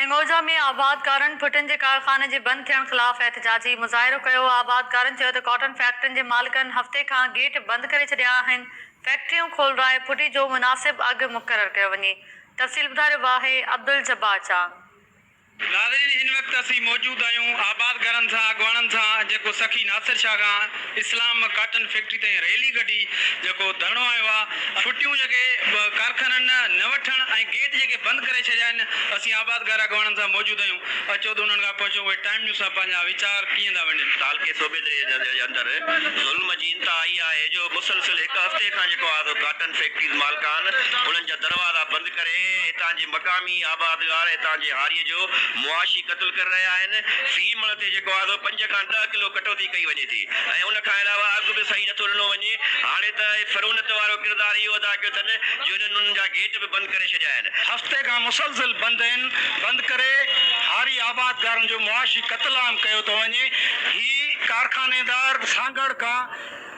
هنگوجا ۾ آبادگارن ڀٽن جي ڪارخاني جي بند ٿيڻ خلاف احتجاجي مظاهرو ڪيو، آبادگارن چيو ته ڪاٽن فيڪٽرين جي مالڪن هفتي کان گيٽ بند ڪري ڇڏيا آهن، فيڪٽريون کولرائي ڦٽي جو مناسب اگهه مقرر ڪيو وڃي. تفصيل ٻڌاريو آهي عبدالجبار چانگ. ناظرين هن وقت اسين موجود آهيون آبادگارن سان اڳواڻن سان جيڪو سخي ناصر شاهه کان. اسلام مان ڪاٽن فيڪٽري تائين ريلي ڪڍي جيڪو ڌرڻو هنيو آ، ڦٽيون جيڪي ڪارخانن نه وٺڻ ۽ گيٽ جيڪي بند ڪري ڇڏيا آهن، اسين آبادگار اڳواڻن سان موجود آهيون، اچو ته انهن کان پڇون اهي ٽائيم نيوز سان پنهنجا ويچار ڪيئن ٿا ونڊين. تعلقي صوبيدڙي جي اندر ظلم جي انتها اها آهي جو مسلسل هڪ هفتي کان جيڪو آ سو ڪاٽن فيڪٽريز مالڪان انهن جا دروازا بند ڪري هتان جي مقامي آبادگار هتان جي هاري جو معاشي قتل ڪري رهيا آهن، في مڻ تي جيڪو آ سو پنج کان ڏهه ڪلو ڪٽوتي ڪئي وڃي ٿي ۽ ان کان علاوه اڳ به صحيح نٿو ڏنو وڃي. هاڻي ته فرونت وارو ڪردار اهو ادا ڪيو ٿن جو هنن انهن جا گيٽ به بند ڪري ڇڏيا آهن. هفتي کان مسلسل بند آهن، بند ڪري هاري آبادگارن جو معاشي قتل عام ڪيو ٿو وڃي. هي ڪارخانيدار سانگهڙ کان.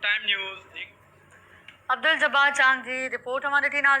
ٽائيم نيوز، عبدالجبار چانگ جي رپورٽ اوهان ڏٺي ناظرين.